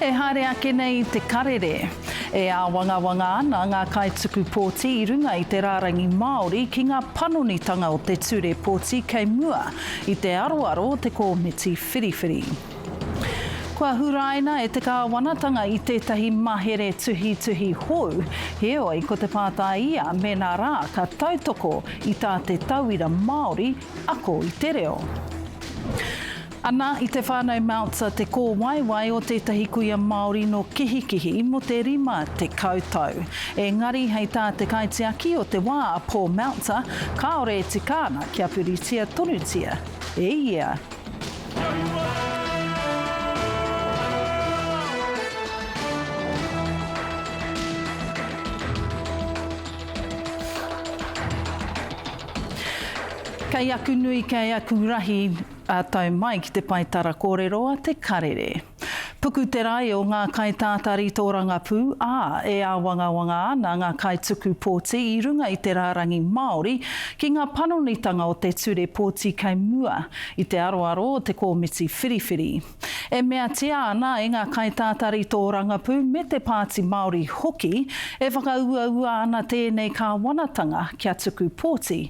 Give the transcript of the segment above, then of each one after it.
E haere ake nei te karere. E āwangawanga ana ngā kaituku pōti i runga i te rārangi Māori ki ngā panonitanga o te ture pōti kei mua i te aroaro o te kōmiti whiriwhiri. Kua huraina e te kāwanatanga i tētahi mahere tuhituhi hou, heoi ko te pātai ia mēnā rā ka tautoko i tā te tauira Māori ako i te reo. Ana i te whānau Meltzer te kōwaiwai o tētahi kuia Māori nō Kihikihi mō te rima tekau tau. Engari hei tā te kaitiaki o te wā a Paul Meltzer, kāore e tika ana kia puritia tonutia e ia. Kei aku nui, kei aku rahi, Ā tau mai ki te pae tara kōrero a Te Karere. Puku te rae o ngā kaitātari tōrangapū, ā, e āwangawanga ana ngā kaituku pōti i runga i te rārangi Māori ki ngā panonitanga o te ture pōti kei mua i te aroaro o te kōmiti whiriwhiri. E meatia ana e ngā kaitātari tōrangapū me te Pāti Māori hoki, e whakauaua ana tēnei kāwanatanga kia tuku pōti,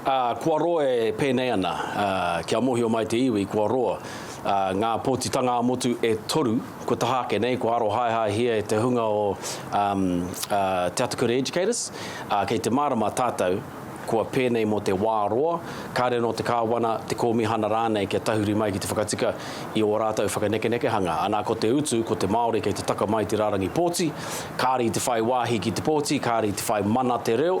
Ā, kua roa e pēnei ana, ā, kia mōhio mai te iwi, kua roa, ā, ngā pōtitanga-ā-motu e toru, kua taha ake nei, kua arohaehaehia e te hunga o, um, uh, Te Atakura Educators, ā, kei te mārama tātou, kua pēnei mō te wā roa, kāre anō te kāwana, te kōmihana rānei kia tahuri mai ki te whakatika i ō rātou whakanekenekehanga. Anā, ko te utu, ko te Māori kei te taka mai i te rārangi pōti, kāre i te whai wāhi ki te pōti, kāre i te whai mana te reo,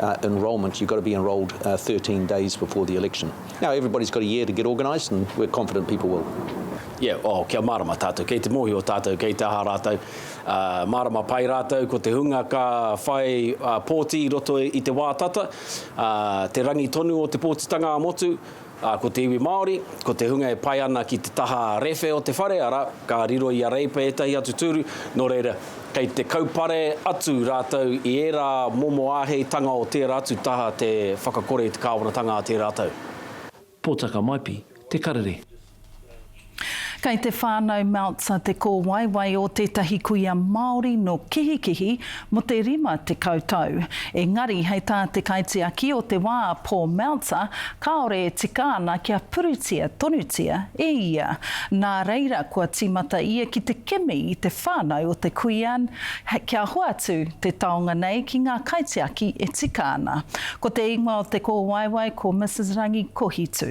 uh, enrolment, you've got to be enrolled uh, 13 days before the election. Now, everybody's got a year to get organised, and we're confident people will. Yeah, oh, kia mārama tātou, kei te mōhio tātou, kei te aha rātou. Uh, ah, mārama pai rātou, ko te hunga ka whai uh, pōti i roto i te wā tata, uh, te rangi tonu o te pōtitanga a motu, Ā, ko te iwi Māori, ko te hunga e pai ana ki te taha rewhe o te whare, arā, ka riro i a Reipa ētahi atu tūru, nō reira, kei te kaupare atu rātou i ērā momo āheitanga o tērā atu taha te whakakore i te kāwanatanga a tērā tau. Pōtaka Maipi, Te Karere. Kei te whānau Meltzer te kōwaiwai o tētahi kuia Māori nō Kihikihi mō te 50 tau. Engari, hei tā te kaitiaki o te wā, Paul Meltzer, kāore e tika ana kia puritia tonutia e ia. Nā reira, kua tīmata ia ki te kimi i te whānau o te kuia kia hoatu te taonga nei ki ngā kaitiaki e tika ana. Ko te ingoa o te kōwaiwai ko Mrs Rangi Kohitu.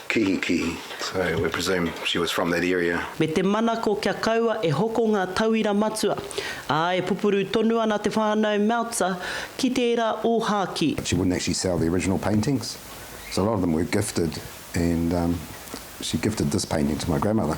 Kihikihi, so we presume she was from that area. Me te manako kia kaua e hoko ngā tauira matua, ā, e pupuru tonu ana te whānau Meltzer ki tērā ōhākī. She wouldn't actually sell the original paintings, so a lot of them were gifted and she gifted this painting to my grandmother.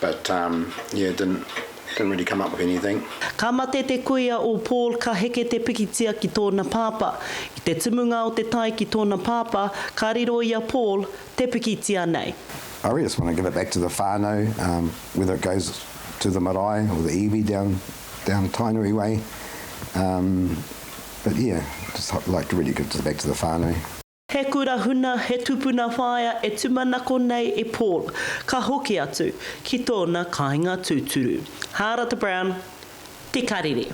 But um yeah didn't didn't really come up with anything. Ka mate te kuia o Paul ka heke te pikitia ki tōna pāpā. I te tumunga o te tae ki tōna pāpā, ka riro i a Paul te pikitia nei. I really just want to give it back to the whānau, um whether it goes to the marae or the iwi down down Tainui way, um but yeah just like to really give it back to the whānau. He kura huna, he tupuna whaea e tumanako nei e Paul, ka hoki atu ki tōna kāinga tūturu. Hārata Brown, Te Karere.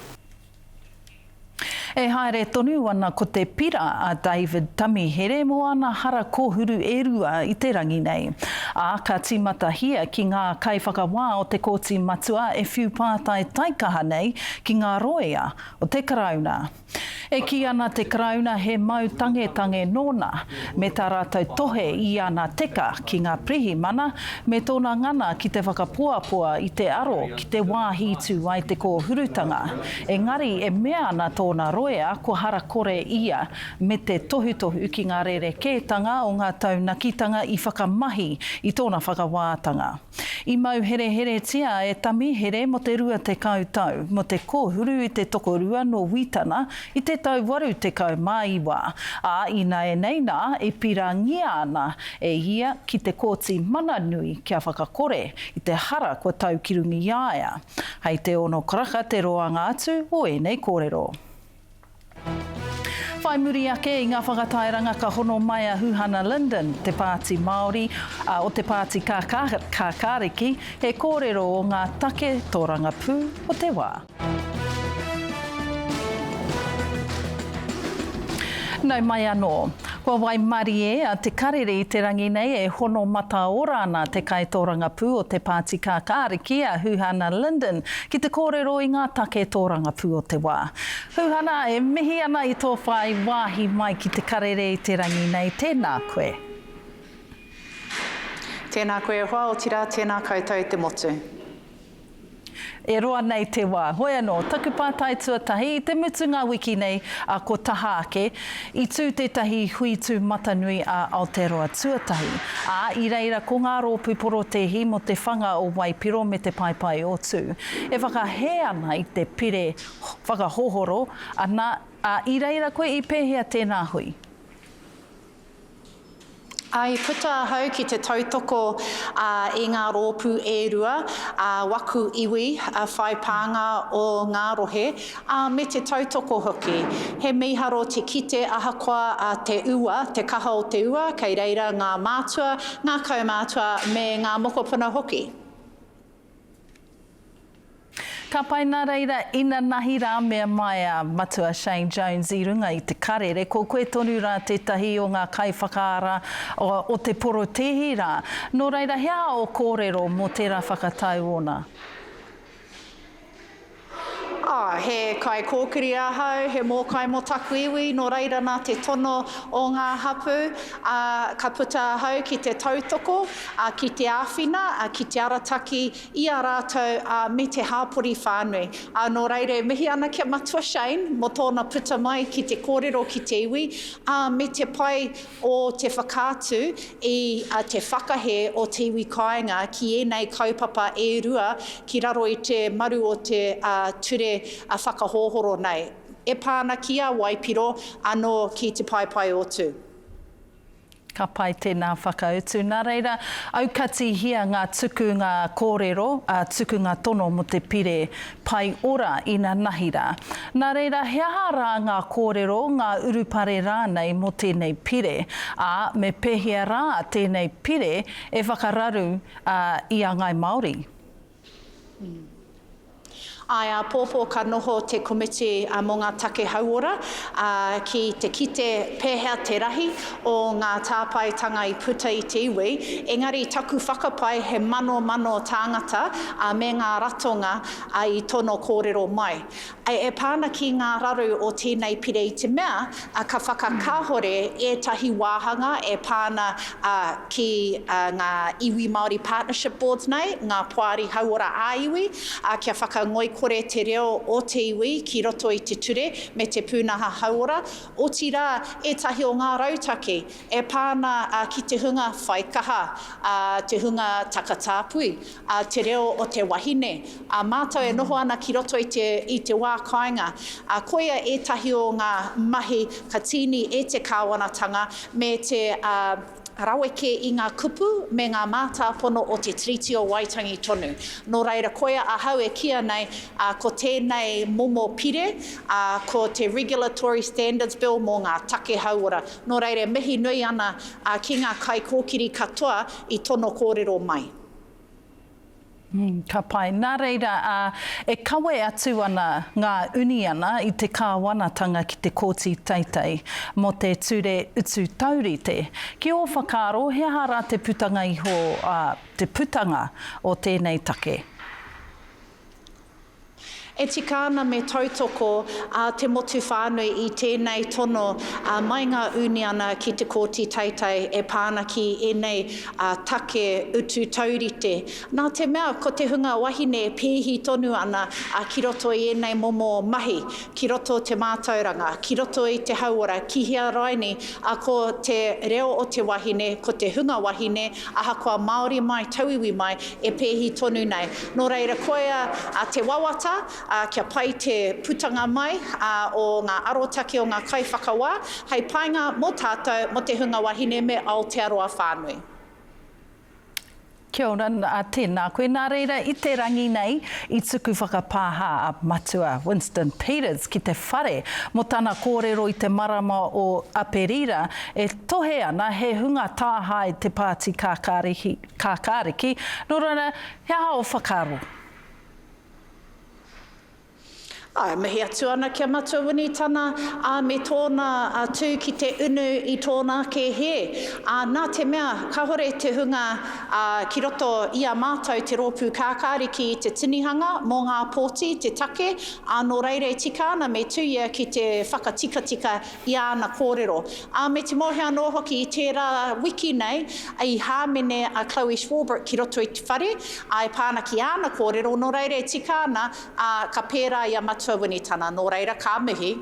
E haere tonu ana ko te pira a David Tamihere mō ana hara kōhuru e rua i te rangi nei, ā, ka tīmatahia ki ngā kaiwhakawā o te Kōti Matua e whiu pātai taikaha nei ki ngā rōia o te Karauna. E kī ana te Karauna he mau tangetange nōna me tā rātou tohe i ana teka ki ngā pirihimana me tōna ngana ki te whakapoapoa i te aro ki te wāhi i tū ai te kōhurutanga, engari e mea ana tōna roea ko Harakore ia me te tohutohu ki ngā rerekētanga o ngā taunakitanga i whakamahi i tōna whakawātanga. I mau hereheretia e Tamihere mo te rua tekau tau, mo te kohuru i te tokorua no Witana i te tau waru tekau ma iwa, a inaenei na e pirangia ana e ia ki te Koti Mana Nui kia whakakore i te hara kua taukirungiaia. Hei te ono karaka te roanga atu o enei korero. Whai muri ake i ngā whakatairanga ka hono mai a Huhana Linden, te Pāti Māori, ā, o te Pāti Kākāriki, he kōrero o ngā take tōrangapū o te wā. Nau mai anō. Kua waimarie a Te Karere i te rangi nei e hono mataora ana te kaitōrangapū o te Pāti Kākāriki, a Huhana Linden, ki te kōrero i ngā take tōrangapū o te wā. Huhana, e mihi ana i tō whāi wāhi mai ki Te Karere i te rangi nei, tēnā koe. Tēnā koe e hoa, otirā, tēnā koutou te motu. E roa nei te wā. Hoi anō, taku pātai tuatahi, i te mutunga wiki nei, ā, ko taha ake, i tū tētahi hui tūmatanui a Aotearoa tuatahi, ā, i reira ko ngā rōpū porotēhi mō te whanga o Waipiro me Te Paepae o Tū, e whakahē ana i te pire whakahohoro, ana, ā, i reira koe i pēhea tēnā hui? I puta ahau ki te tautoko i ngā rōpū e rua a waku iwi whai pānga o ngā rohe, ā, me te tautoko hoki. He mīharo te kite ahakoa te ua, te kaha o te ua, kei reira ngā mātua, ngā kaumātua me ngā mokopuna hoki. Ka pai na reira inanahi ra mea mai a Matua Shane Jones i runga i te karere ko koe tonu ra tetahi o nga kaiwhakaara o te porotehi ra, no reira hea o korero mo tera whakatau ona? Ah, he kaikōkiri ahau, he mōkai mō taku iwi, nō reira nā te tono o ngā hapū, ah, ka puta ahau ki te tautoko, ah, ki te āwhina, ah, ki te arataki i a rātou, ah, me te hāpori whānui. Ah, nō reira e mihi ana ki a Matua Shane mō tōna puta mai ki te kōrero ki te iwi, ah, me te pai o te whakaatu i te whakahē o te iwi kāinga ki ēnei kaupapa e rua ki raro i te maru o te ture whakahohoro nei, e pā ana ki a Waipiro anō ki te paepaeotu. Ka pai tēnā whakautu. Nā reira, aukatihia ngā tukunga kōrero, ā, tukunga tono mō te pire Pai ora ina nahi ra. Na reira he aha ra nga korero, nga urupare ranei mo tenei pire? A me pehea ra tenei pire e whakararu i a ngai Maori? Ae apopo ka noho te komiti mo nga take hauora ki te kite pehea te rahi o ngā tāpaetanga i puta i te iwi, engari taku whakapae he manomano tāngata ā me ngā ratonga ā i tono kōrero mai. Ā e pā ana ki ngā raru o tēnei pire i te mea ā ka whakakāhore ētahi wāhanga e pā ana ā ki ā ngā iwi Māori partnership boards nei ngā poari hauora ā iwi ā kia whakangoikore te reo o te iwi ki roto i te ture me te pūnaha hauora otirā ētahi o ngā rautaki e pā ana ki te hunga whaikaha, te hunga takatāpui, te reo o te wahine, ā mātou e noho ana ki roto i te wā kāinga. Koia ētahi o ngā mahi ka tīni e te kāwanatanga me te. rawe kē i ngā kupu me ngā mātāpono o te Tiriti o Waitangi tonu. Nō reira koia ahau e kīia nei ko tēnei momo pire ko te Regulatory Standards Bill mō ngā take hauora. Nō reira e mihi nui ana ki ngā kaikōkiri katoa i tono kōrero mai. Ka pai. Nā reira, ā, e kawe atu ana ngā uniana i te kāwanatanga ki te Kōti Teitei mō te Ture Utu Taurite. Ki ō whakaaro, he aha rā te putanga iho, ā, te putanga o tēnei take? E tika ana me tautoko a te motu whānui i tēnei tono mai ngā uniana ki te Kōti Teitei e pā ana ki ēnei take utu taurite. Nā te mea ko te hunga wahine pēhi tonu ana ki roto i ēnei momo mahi, ki roto te mātauranga, ki roto i te hauora, ki hea raini, a ko te reo o te wahine, ko te hunga wahine, ahakoa Māori mai, tauiwi mai, e pēhi tonu nei. Nō reira, koia te wawata, kia pai te putanga mai o ngā arotake o ngā kaiwhakawā, hei painga mō tātou, mō te hunga wahine me Aotearoa whānui. Kia ora, tēnā koe. Nā reira, i te rangi nei, i tuku whakapāha a Matua Winston Peters ki te whare mō tana kōrero i te marama o Aperira e tohe ana he hunga tāhae te Pāti Kākāriki, nō reira, he aha ō whakaaro? Ā, e mihi atu ana ki a Matua Winitana, ā, me tōna tū ki te unu i tōna ake hē. Ā, nā te mea, kāhore te hunga ki roto i a mātou te rōpū kākāriki i te tinihanga mō ngā pōti, te take, ā, nō reira e tika ana me tū ia ki te whakatikatika i āna kōrero. Ā, me te mōhio anō hoki, i tērā wiki nei, i hāmene a Chloe Swarbrick ki roto i te whare, ā, e pā ana ki āna kōrero, nō reira e tika ana, Ā, ka pērā i a Matua Winitana, nō reira, ka mihi.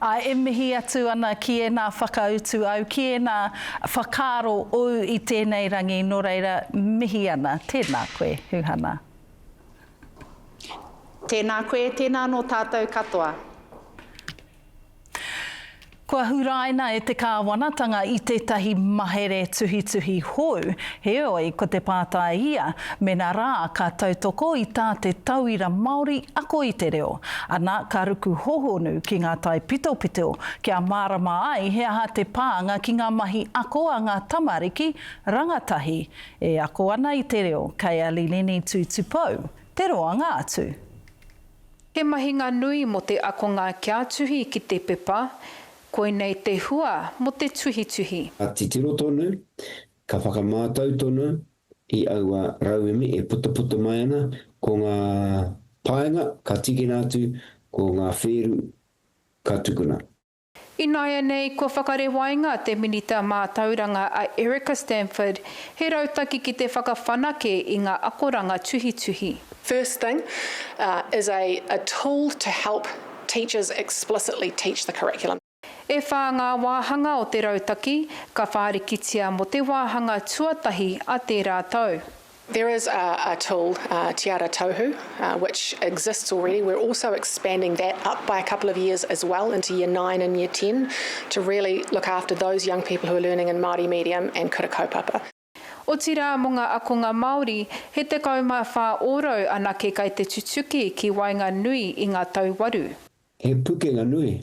Ā, e mihi atu ana ki ēnā whakautu au, ki ēnā whakaaro ou i tēnei rangi, nō reira, mihi ana. Tēnā koe, Huhana. Tēnā koe, tēnā nō tātou katoa. Kua huraina e te kāwanatanga i tētahi mahere tuhituhi hou, heoi ko te pātai ia, mēnā rā ka tautoko i tā te tauira Māori ako i te reo, ana ka ruku hōhonu ki ngā taipitopito kia mārama ai he aha te pānga ki ngā mahi ako a ngā tamariki rangatahi e ako ana i te reo, kei a Lilini Tutupou te roanga atu. He mahinga nui mō te akonga kia tuhi ki te pepa, koinei te hua mō te tuhituhi. Ka titiro tonu, ka whakamātau tonu i aua rauemi e putuputu mai ana, ko ngā paenga ka tīkina atu, ko ngā whēru ka tukuna. Ināianei kua whakarewainga te Minita Mātauranga a Erica Stanford, he rautaki ki te whakawhanake i ngā akoranga tuhituhi. First thing is a a tool to help teachers explicitly teach the curriculum. E whā ngā wāhanga o te rautaki ka whārikitia mō te wāhanga tuatahi a tērā tau. There is a a tool, Te Ara Tauhu, which exists already. We're also expanding that up by a couple of years as well into year nine and year ten to really look after those young people who are learning in Māori medium and kura kaupapa. Otirā mō ngā akonga Māori, he 14 ōrau anake kai te tutuki ki waenga nui i ngā tau waru. He pukenga nui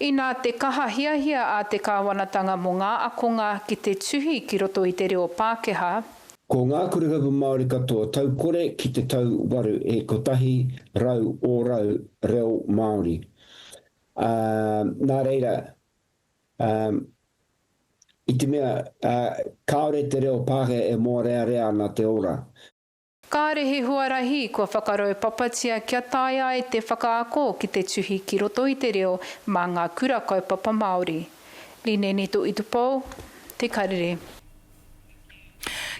Inā te kaha hiahia a te kāwanatanga mō ngā akonga ki te tuhi ki roto i te reo Pākehā. Ko ngā kurikapu Māori katoa tau kore ki te tau waru e kotahi rau ōrau reo Māori, ā, nā reira, ā, i te mea, ā, kāore te reo Pākehā e mōrearea ana te ora. Kāre he huarahi kua whakaraupapatia kia taea ai te whakaako ki te tuhi ki roto i te reo mā ngā Kura Kaupapa Māori. Linenito Itupo, Te Karere.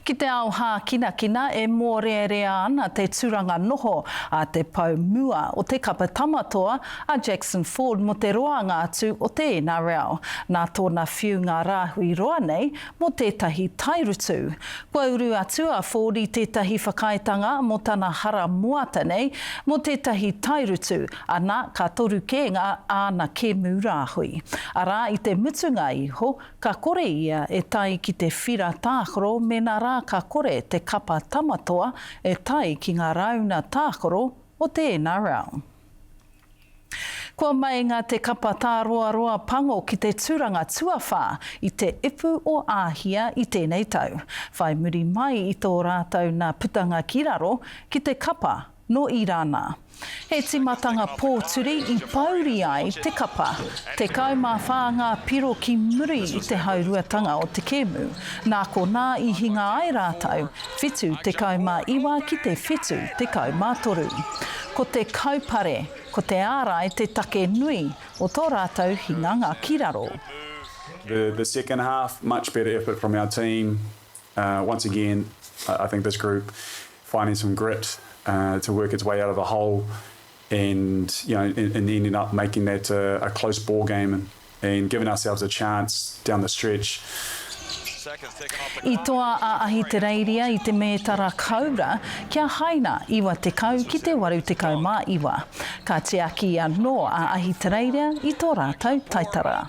Ki te ao hākinakina e mōrearea ana te turanga noho a te pou mua o te kapa tamatoa a Jackson Ford mō te roanga atu o te NRL. Nā tōna whiu ngā rāhui roa nei mō tētahi tairutu. Kua uru atu a Forde tētahi whakaaetanga mō tana hara moata nei, mō tētahi tairutu, ana, ka toru kē ngā āna kēmu rāhui. Arā, i te mutunga iho, ka kore ia e tae ki te whira tākaro mēnā rā ka kore te kapa Tamatoa e tae ki ngā rāuna tākaro o te NRL. Kua meinga te kapa tāroaroa pango ki te tūranga tuawhā i te ipu o Āhia i tēnei tau, whai muri mai i tō rātou nā putanga ki raro ki te kapa nō Irāna. He tīmatanga pōturi i pōuri ai te kapa. Tekau mā whā ngā piro ki muri i te hauruatanga o te kēmu, nā konā i hinga ai rātou Whitu tekau mā iwa ki te whitu tekau mā toru. Ko te kaupare, ko te ārai te take nui o tō rātou hinganga ki raro. The the second half much better effort from our team uh once again I think this group finding some grit uh to work its way out of a hole and you know and and ending up making that a, a close ball game and, and giving ourselves a chance down the stretch. I toa a Ahitereiria i te mētara koura kia haina 90 ki te 89. Ka tiaki anō a Ahitereiria i tō rātou taitara.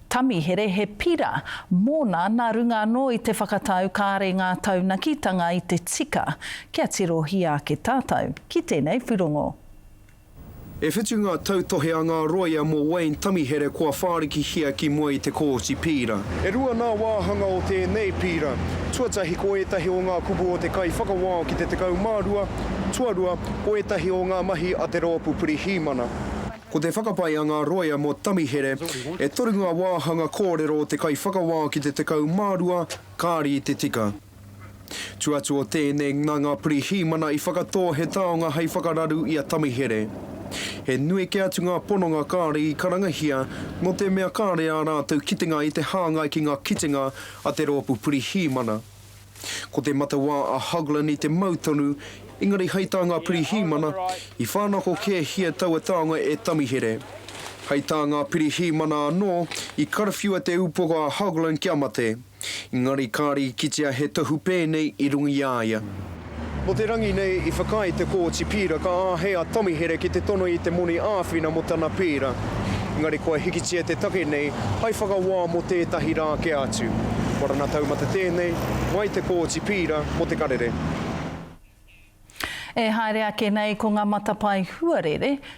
Tamihere he pira, mōna nā runga anō i te whakatau kāre ngā taunakitanga i te tika kia tirohia ake tātou ki tēnei pūrongo. E whitu ngā tautohe a ngā rōia mō Wayne Tamihere kua whārikihia ki mua i te Kōti Pīra. E rua ngā wāhanga o tēnei pīra, tuatahi ko ētahi o ngā kupu o te kaiwhakawao ki te 12, tuarua, ko ētahi o ngā mahi a te rōpū Pirihimana. Ko te whakapae a ngā roea mō Tamihere, e toru ngā wāhanga kōrero o te kaiwhakawā ki te 12 kāri i te tika. Tū atu o tēnei, nā ngā pirihīmana i whakatō he taonga hei whakararu i a Tamihere. He nui kē atu ngā pononga kāri i karangahia, nō te mea kāre ā rātou kitenga i te hāngai ki ngā kitenga a te rōpū pirihīmana. Ko te matawā a Hoglan i te mau tonu, engari hei tā ngā pirihīmana, i whānako kēhia taua taonga e Tamihere. Hei tā ngā pirihīmana anō, i karawhiua te upoko a Hoglan kia mate, engari kāre i kitea he tohu pēnei i runga i a ia. Mō te rangi nei i whakaae te Kōti Pīra ka āhei a Tommy Here ki te tono i te moni āwhina mō tana pērā. Engari kua hikitia te take nei hai whakawā mō tētahi rā kē atu. Warana taumata tēnei, mai te Kōti Pīra mō te karere. E haere ake nei ko ngā matapae huarere,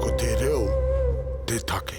Ko te reo te take.